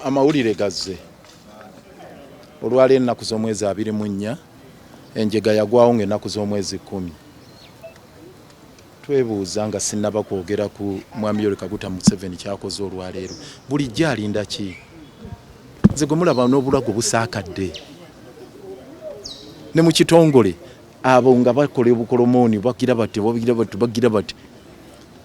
amawulire gazze olwali ennaku z'omwezi abiri mu nnya enjega yagwawo ng'ennaku z'omwezi kkumi twebuuza nga sinnaba kwogera ku mwami yori kaguta museveni kyakoze olwaleero bulijjo alinda ki nze gwe mulaba n'obulago busaakadde ne mu kitongole abo nga bakola obukolomooni bagira bati bagira bati bagira bati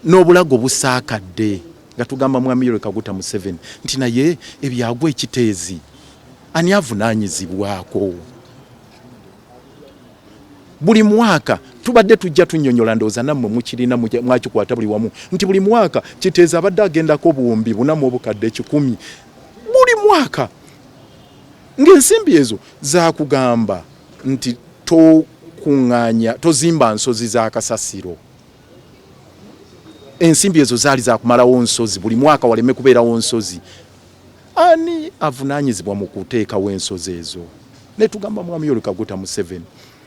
N'obulago busaakadde nga tugamba Mwami Yoweri Kaguta Museveni nti naye ebyagwa e Kiteezi ani avunaanyizibwako? buli mwaka tubadde tujja tunyonyola ndowooza nammwe mukirina mwakikwata buli wamu nti buli mwaka kiteeza abadde agendako obuwumbi bunamu obukadde ekikumi buli mwaka ng'ensimbi ezo zakugamba nti tokuŋŋaanya tozimba nsozi za kasasiro ensimbi ezo zaali zakumalawo nsozi buli mwaka waleme kubeerawo nsozi ani avunanyizibwa mu kuteekawo ensozi ezo netugamba mwami yoli kaguta museveni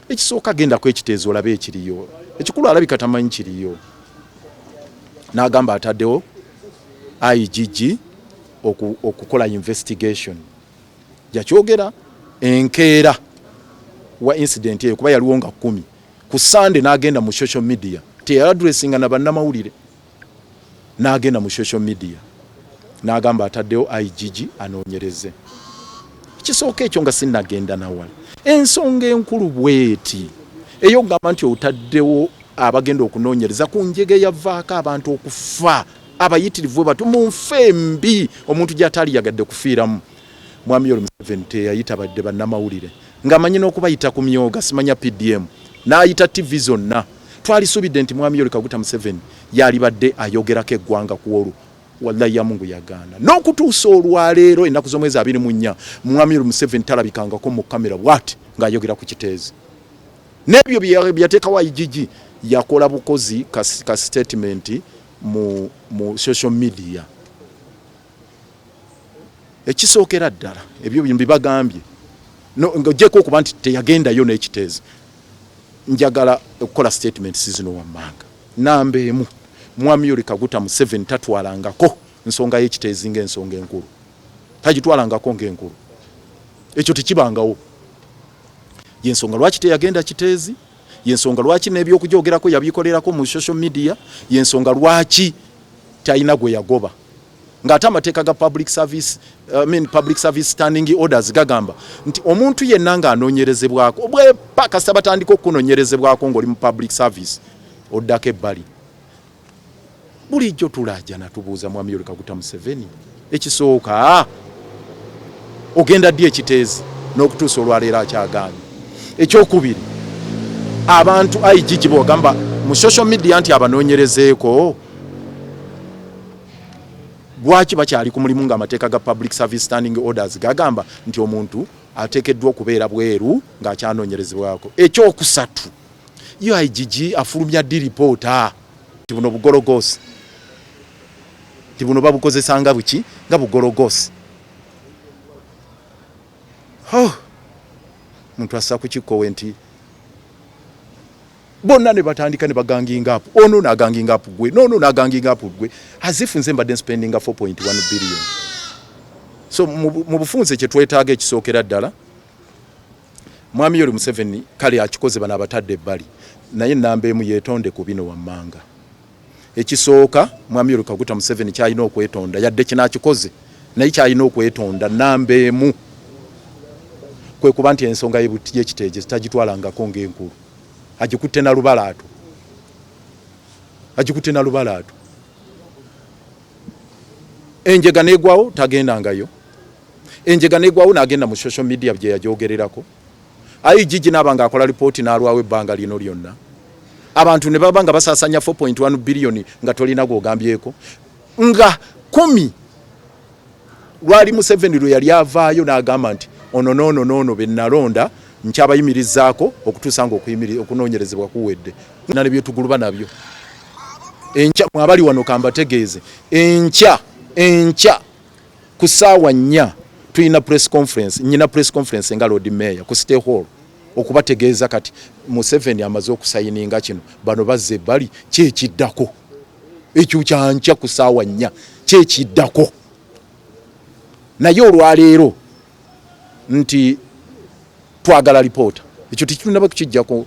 ekisooka genda kwekiteezo olabe ekiriyo ekikulu alabika tamanyi kiriyo n'agamba ataddewo igg okukola investigation yakyogera enkeera wa incident eyo kuba yaliwo nga kumi ku Sunday n'agenda mu social media, teyaladressinga na bannamawulire, n'agenda mu social media n'agamba ataddewo IGG anoonyereze ekisooka ekyo nga sinnagenda nawala. Ensonga enkulu bweti ey'okugamba nti otaddewo abagenda okunoonyereza ku njega eyavaako abantu okufa abayitirivu batu mu nfa embi omuntu gy'ataali yagadde kufiiramu. Mwami Yoweri Museveni teyayita badde bannamawulire. Nga amanyi n'okubayita ku myooga simanya PDM n'ayita TV zonna. Twalisuubidde nti Mwami Yoweri Kaguta Museveni yaalibadde ayogerako eggwanga ku olwo. Wallahi ya Mungu yagaana. N'okutuusa olwaleero ennaku z'omwezi abiri mu nnya Mwami Yoweri Museveni talabikangako mu kkamera bw'ati ng'ayogera ku Kiteezi. N'ebyo bye yateekawo IGG yakola bukozi ka sitetimenti mu social media. ekisookera ddala ebyo bino bibagambye ng'ogyeko okuba nti teyagendayo n'ekiteezi njagala okukola statement sizino wammanga namba emu mwami yoli kaguta museveni tatwalangako nsonga y'ekiteezi ng'ensonga enkulu tagitwalangako ng'enkulu ekyo tekibangawo yensonga lwaki teyagenda kiteezi yensonga lwaki n'ebyokugyogerako yabikolerako mu social media yensonga lwaki talina gwe yagoba ng'ate amateeka ga public service, uh, I mean public service standing orders gagamba nti omuntu yenna ng'anoonyerezebwako bwepa kasita batandika okukunonyerezebwako ng'oli mu public service oddako ebbali bulijjo tulaajana tubuuza mwami yoleka kuta museveni ekisooka ogenda ddi ekiteezi n'okutuusa olwaleero akyagaanyi ekyokubiri abantu igg bwogamba mu social media nti abanoonyerezeeko lwaki bakyali ku mulimu ng'amateeka ga public service standing orders gagamba nti omuntu ateekeddwa okubeera bweru ng'akyanoonyerezebwako ekyokusatu uigg afulumya ddi lipoota ti buno bugologoosi ti buno babukozesa nga buki nga bugologoosi omuntu assa ku kikkowe nti bonna ne batandika ne baganginga apu ono naganginga apu gwe nono naganginga apu gwe azifu nze mbadde nspendinga 4.1 billion so mu bufunze kye twetaaga ekisookera ddala mwami yoli museveni kale akikoze bano abatadde ebbali naye namba emu yetonde ku bino wammanga Ekisooka Mwami Yoweri Kaguta Museveni kyalina okwetonda yadde kino akikoze naye kyalina okwetonda namba emu kwe kuba nti ensonga y'ekiteegezi tagitwalangako ng'enkulu agikutte na lubalaato agikutte na lubalaato enjega n'egwawo tagendangayo enjega n'egwawo n'agenda mu social media gye yagyogererako Ayi Gigi naaba nga akola lipooti n'alwawo ebbanga lino lyonna abantu ne baba nga basasanya 4.1 billion nga tolina gwogambyeko nga kumi lwali Museveni lwe yali avaayo n'agamba nti ono noono noono be nalonda nkyabayimirizaako okutuusa nga okunoonyerezebwa kuwedde na ne byetuguluba nabyo enkya mwabali wano kambategeeze enkya enkya ku saawa nnya tulina press conference nyina press conference nga lord mayor ku stay hall okubategeeza kati museveni amaze okusayininga kino bano bazze bali kyekiddako ekyo kyankya ku saawa nnya kyekiddako naye olwaleero nti twagala lipoota ekyo tekitunaba kukijjako